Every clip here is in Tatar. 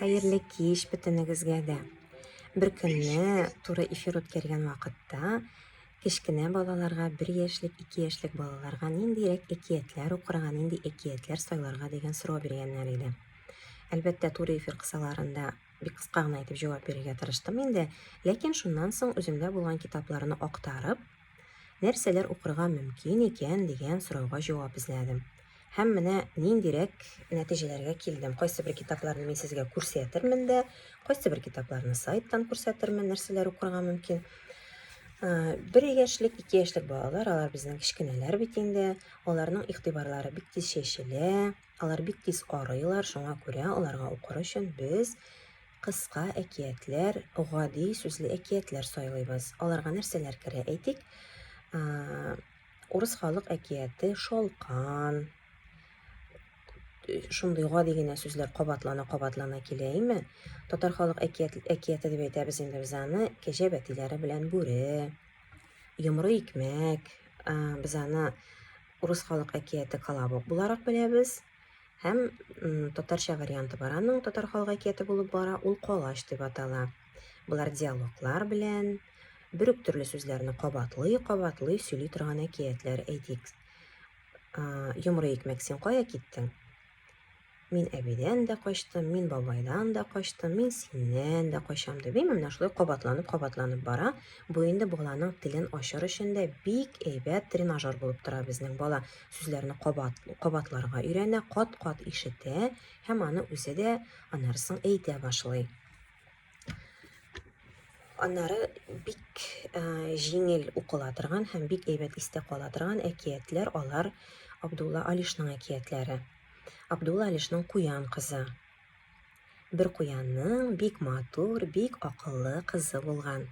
Хәерле кич бөтенегезгә дә. Бер көнне туры эфир үткәргән вакытта кечкенә балаларга, бер яшьлек, ике яшьлек балаларга ниндирәк әкиятләр укырга, нинди әкиятләр сайларга дигән сорау биргәннәр иде. Әлбәттә, туры эфир кысаларында бик кыска гына итеп җавап бирергә тырыштым инде, ләкин шуннан соң үземдә булган китапларны актарып, нәрсәләр укырга мөмкин икән дигән сорауга җавап эзләдем. Һәм менә ниндирәк нәтиҗәләргә килдем. Кайсы бер китапларны мин сезгә күрсәтермен дә, кайсы бер китапларны сайттан күрсәтермен, нәрсәләр укырга мөмкин. Бер яшьлек, ике яшьлек балалар, алар безнең кечкенәләр бит инде. Аларның игътибарлары бик тиз чәчелә, алар бик тиз арыйлар, шуңа күрә аларга укыр өчен без кыска әкиятләр, гади сүзле әкиятләр сайлыйбыз. Аларга нәрсәләр керә әйтик? Урыс халык әкияте шалкан. Шундый гади генә сүзләр кабатлана-кабатлана килә име? Татар халык әкият, әкияте дип әйтәбез инде без аны. Кәҗә бәтиләре белән бүре. Йомры икмәк. Без аны урыс халык әкияте колобок буларак беләбез. Һәм татарча варианты бар аның, татар халык әкияте булып бара, ул колач дип атала. Болар диалоглар белән, бер үк төрле сүзләрне кабатлый, кабатлый сөйли торган әкиятләр әйтик. Йомры икмәк, син кая киттең? Мин әбидән дә качтым, мин бабайдан да качтым, мин синнән дә качам дип, әйме, менә шулай кабатланып, кабатланып бара. Бу инде баланың телен ачыр өчен дә бик әйбәт тренажер булып тора безнең бала. сүзләрне кабат, кабатларга өйрәнә, кат-кат ишетә һәм аны үзе дә аннары соң әйтә башлый. Аннары бик ә, җиңел укыла торган һәм бик әйбәт истә кала торган әкиятләр алар Абдулла Алишның әкиятләре. Абдулла Алишның Куян кызы. Бер куянның бик матур, бик акыллы кызы булган.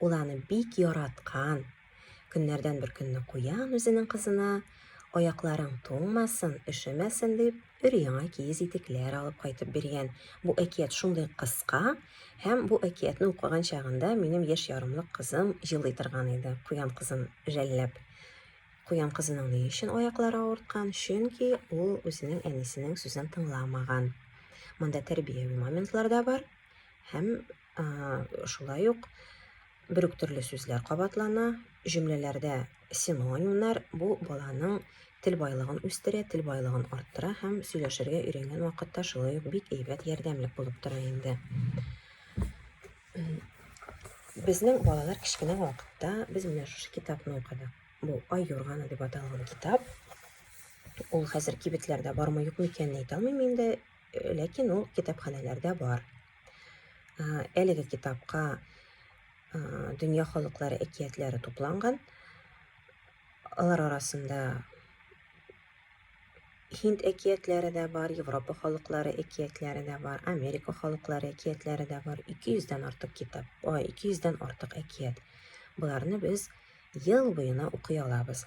Ул аны бик яраткан, Көннәрдән бер көнне куян үзенең кызына, аякларың туңмасын, өшемәсен дип, өр яңа киез итекләр алып кайтып биргән. Бу әкият шундый кыска, һәм бу әкиятне укыган чагында минем яшь ярымлык кызым җылый торган иде, куян кызын жәлләп. Куян кызының ни өчен аяклары авырткан? Чөнки ул үзенең әнисенең сүзен тыңламаган. Монда тәрбияви моментлар да бар һәм Шулай ук бер үк төрле сүзләр кабатлана, җөмләләрдә синонимнар бу баланың тел байлыгын үстерә, тел байлыгын арттыра һәм сөйләшергә өйрәнгән вакытта шулай ук бик әйбәт ярдәмлек булып тора инде. Безнең балалар кечкенә вакытта без менә шушы китапны укыдык. Бу Ай юрганы дип аталган китап. Ул хәзер кибетләрдә бармы юкмы икәнен әйтә алмыйм инде, ләкин ул китапханәләрдә бар. Әлеге китапка дөнья халыклары әкиятләре тупланган. Алар арасында Һинд әкиятләре дә бар, Европа халыклары әкиятләре дә бар, Америка халыклары әкиятләре дә бар. 200-дән артык китап, 200-дән артык әкият. Боларны без ел буена укый алабыз.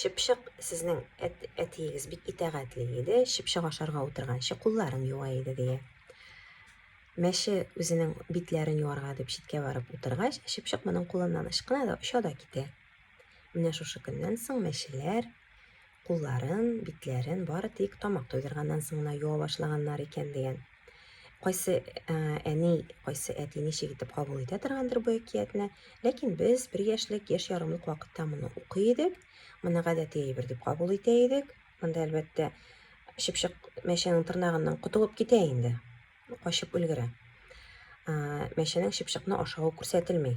Чыпчык сезнең әт, әтиегез бик итәгатьле иде, чыпчык ашарга утырганчы кулларын юа иде дия. Мәше үзенең битләрен юарга дип читкә барып утыргач, чыпчык моның кулыннан ычкына да оча да китә. Менә шушы көннән соң мәшеләр кулларын, битләрен бары тик тамак туйдырганнан соң гына юа башлаганнар икән дигән Кайсы ә, әни, кайсы әти ничек итеп кабул итә торгандыр бу әкиятне, ләкин без бер яшьлек, яшь ярымлык вакытта моны укый идек, моны гадәти әйбер дип кабул итә идек. Монда әлбәттә чыпчык мәчәнең тырнагыннан котылып китә инде, качып өлгерә. Мәчәнең чыпчыкны ашавы күрсәтелми.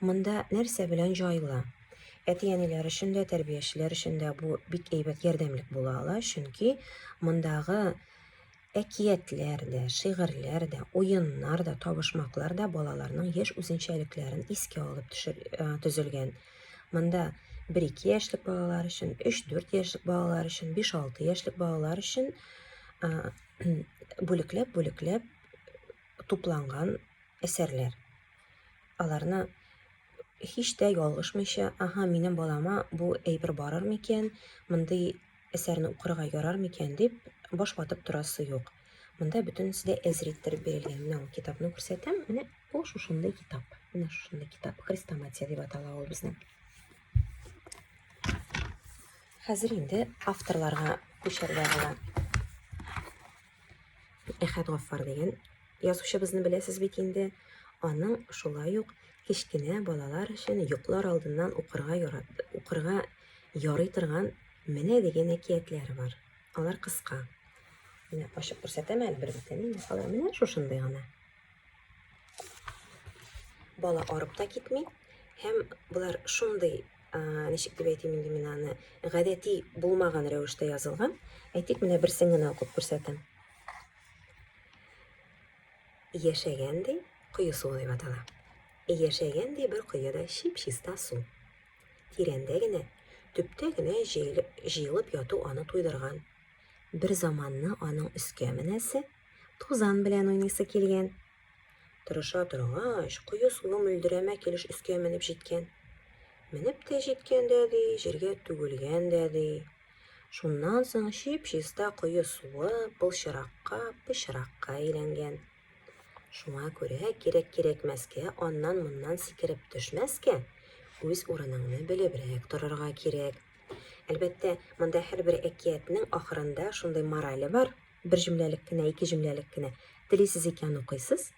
Монда нәрсә белән җайлы? Әти-әниләр өчен дә, тәрбиячеләр өчен дә бу бик әйбәт ярдәмлек була ала, чөнки мондагы әкиятләр дә, шигырьләр дә, уеннар да, табышмаклар да балаларның яшь үзенчәлекләрен искә алып төшер, э, төзелгән. Монда 1-2 яшьлек балалар өчен, 3-4 яшьлек балалар өчен, 5-6 яшьлек балалар өчен бүлекләп-бүлекләп тупланган әсәрләр. аларны һич тә ялгышмыйча, аһа, минем балама бу әйбер барыр микән, мондый әсәрне укырга ярар микән дип баш ватып торасы юк. Монда бөтенесе дә әзер иттереп бирелгән. Менә ул китапны күрсәтәм. Менә бу шушындый китап. Менә шушындый китап. Хрестоматия дип атала ул безнең. Хәзер инде авторларга күчәргә була. Әхәт Гаффар дигән язучыбызны беләсез бит инде. Аның шулай ук кечкенә балалар өчен йоклар алдыннан укырга ярат, укырга ярый торган менә дигән әкиятләре бар. Алар кыска. Менә ачып күрсәтәм әле бер битен. Алар менә шушындый гына. Бала арып та китми. Һәм болар шундый, ничек дип әйтим инде мин аны, гадәти булмаган рәвештә язылган. Әйтик, менә берсен генә укып күрсәтәм. Яшәгәндей, кое суы дип атала. Яшәгәндей бер коеда чип-чиста су. Тирәндә генә, төптә генә җыелып яту аны туйдырган. Бер заманны аның өскә менәсе, Тузан белән уйныйсы килгән. Тырыша торгач, кое суы мөлдерәмә килеш өскә менеп җиткән. Менеп тә җиткән дә ди, җиргә түгелгән дә ди. Шуннан соң чип-чиста кое суы былчыракка, пычракка әйләнгән. Шуңа күрә кирәк-кирәкмәскә аннан-моннан сикереп төшмәскә, үз урыныңны белебрәк торырга кирәк. Әлбәттә, монда һәрбер әкиятнең ахырында шундый морале бар, Бер җөмләлек кенә, ике җөмләлек кенә. Телисез икән укыйсыз,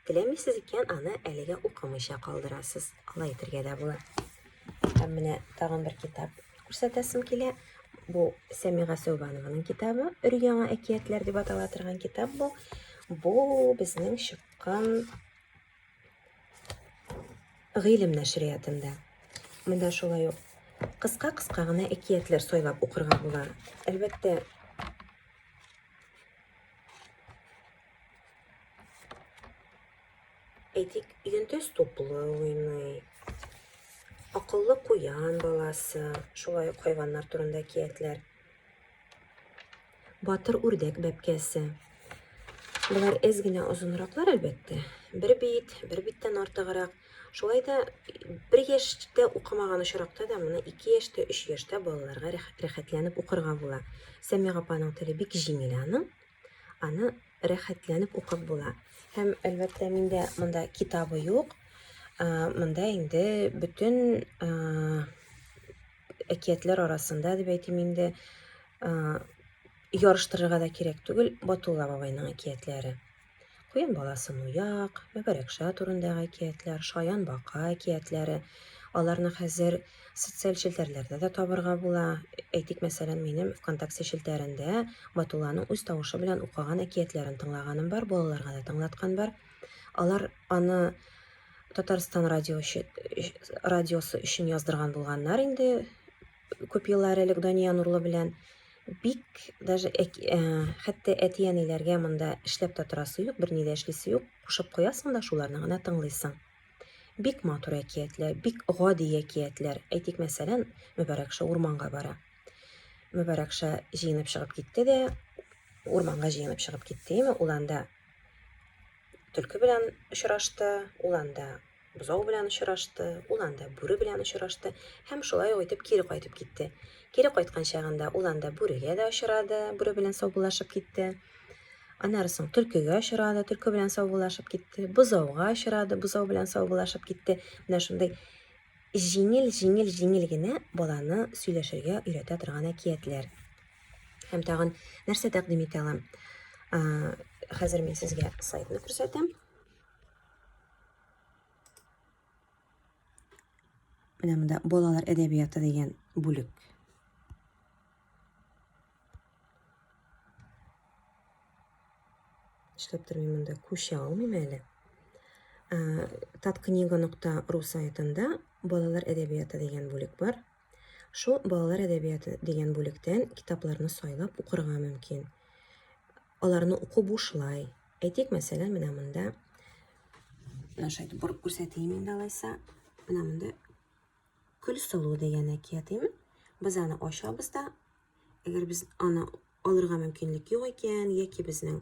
теләмисез икән аны әлегә укымыйча калдырасыз. Алай итергә дә була. Һәм менә тагын бер китап күрсәтәсем килә. Бу Сәмига Сәүбанованың китабы. Өр-яңа әкиятләр дип атала торган китап бу. Бу безнең чыккан Гыйлем нәшриятында. Монда шулай ук кыска-кыска гына әкиятләр сайлап укырга була. Әлбәттә, әйтик, йөнтәс туплы уйный, акыллы куян баласы, шулай ук хайваннар турында әкиятләр. Батыр үрдәк бәбкәсе. Болар әз генә озынраклар, әлбәттә. Бер бит, бер биттән артыграк. Шулай да бер яшьтә укымаган очракта да моны 2 яшьтә, 3 яшьтә балаларга рәхәтләнеп укырга була. Сәмига апаның теле бик җиңел аның. Аны рәхәтләнеп укып була. Һәм әлбәттә миндә монда китабы юк. Монда инде бөтен әкиятләр арасында дип әйтим инде ярыштырырга да кирәк түгел батулла бабайның әкиятләре куен баласы нуяк мәбәрәкша турындагы әкиятләр шаян бака әкиятләре аларны хәзер социаль челтәрләрдә дә табырга була әйтик мәсәлән минем вконтакте челтәрендә батулланың үз тавышы белән укыган әкиятләрен тыңлаганым бар балаларга да тыңлаткан бар алар аны Татарстан радио өчен радиосы өчен яздырган булганнар инде күп еллар элек Дания Нурлы белән бик даже э, хәтта әти-әниләргә монда эшләп тә торасы юк, берни дә эшлисе юк, кушып куясың да шуларны гына тыңлыйсың. Бик матур әкиятләр, бик гади әкиятләр. Әйтик, мәсәлән, Мөбарәкша урманга бара. Мөбарәкша җыенып чыгып китте дә, урманга җыенып чыгып китте, яме ул анда Төлке белән очрашты, ул анда бозау белән очрашты, ул анда бүре белән очрашты һәм шулай ук итеп кире кайтып китте. Кире кайткан чагында ул анда бүрегә дә очрады, бүре белән саубуллашып китте. Аннары соң төлкегә очрады, төлке белән саубуллашып китте, бозауга очрады, бозау белән саубуллашып китте. Менә шундый җиңел-җиңел-җиңел генә баланы сөйләшергә өйрәтә торган әкиятләр. Һәм тагын нәрсә тәкъдим итә алам? Хәзер мин сезгә сайтны күрсәтәм. Менә монда балалар әдәбияты дигән бүлек. Эшләп тормыйм монда, күчә алмыйм әле. Таткнига.ру сайтында балалар әдәбияты дигән бүлек бар. Шул балалар әдәбияты дигән бүлектән китапларны сайлап укырга мөмкин. Аларны уку бушлай. Әйтик, мәсәлән, менә монда наша итеп борып күрсәтәйем инде алайса. Менә монда Көлсылу дигән әкиятеме? Без аны ачабыз да, әгәр без аны алырга мөмкинлек юк икән, яки безнең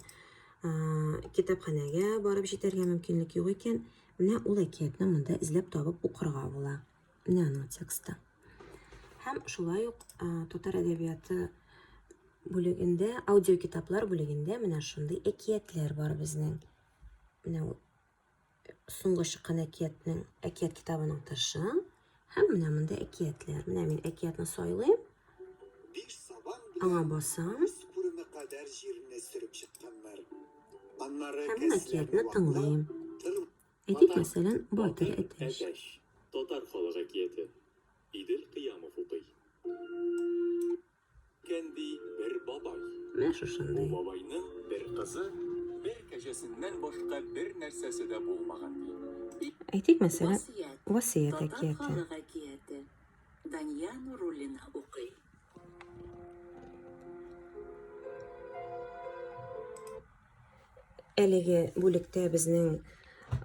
китапханәгә барып җитәргә мөмкинлек юк икән, менә ул әкиятне монда эзләп табып укырга була. нано тексты. Һәм шулай ук татар әдәбияты бүлегендә, аудио китаплар бүлегендә менә шундый әкиятләр бар безнең. Менә соңгы чыккан әкиятнең, әкият китабының тышы һәм менә монда әкиятләр. Менә мин әкиятне сайлыйм. Аңа басам. Һәм әкиятне тыңлыйм. Әйтик, мәсәлән, Батыр әтәч. Татар халык әкияте. Идел Кыямов укый. Кәнди бер бабай. Менә шушындый. Бу бабайның бер кызы, бер кәҗәсеннән башка бер нәрсәсе дә булмаган. Әйтик, мәсәлән, Васыят әкияте. Татар халык әкияте. Дания Нуруллина укый. Әлеге бүлектә безнең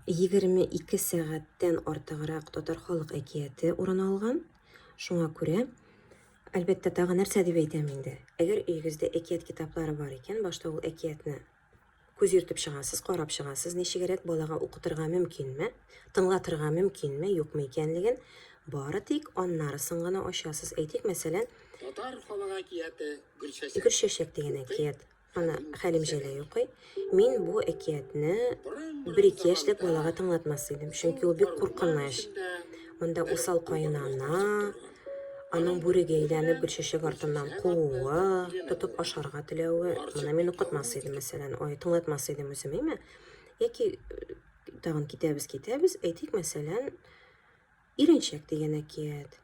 22 сәгатьтән артыграк татар халык әкияте урын алган. Шуңа күрә, әлбәттә, тагы нәрсә дип әйтәм инде. Әгәр өегездә әкият китаплары бар икән, башта ул әкиятне күз йөртеп чыгасыз, карап чыгасыз, ничегрәк балага укытырга мөмкинме, тыңлатырга мөмкинме, юкмы икәнлеген, бары тик аннарысын гына ачасыз. Әйтик, мәсәлән, Татар халык әкияте Гөлчәчәк. Гөлчәчәк дигән әкият. Ана Хәлим Җәләй укый. Мин бу әкиятне бер ике яшьлек балага тыңлатмас идем, чөнки ул бик куркыныч. Монда усал каенана, аның бүрегә әйләнеп гөл чәчәк артыннан кууы, тотып ашарга теләве, моны мин укытмас идем, мәсәлән, ой, тыңлатмас идем үзем, әйме? Яки э, тагын китәбез, китәбез, әйтик, мәсәлән, Иренчәк дигән әкият,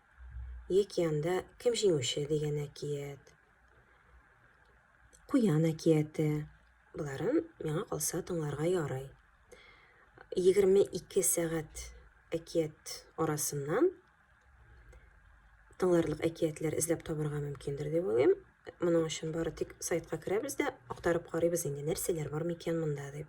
яки анда Кем җиңүче дигән әкият. Куян әкияте. Боларын миңа калса тыңларга ярый. 22 сәгать әкият арасыннан тыңларлык әкиятләр эзләп табырга мөмкиндер дип уйлыйм. Моның өчен бары тик сайтка керәбез дә актарып карыйбыз инде нәрсәләр бар микән монда дип.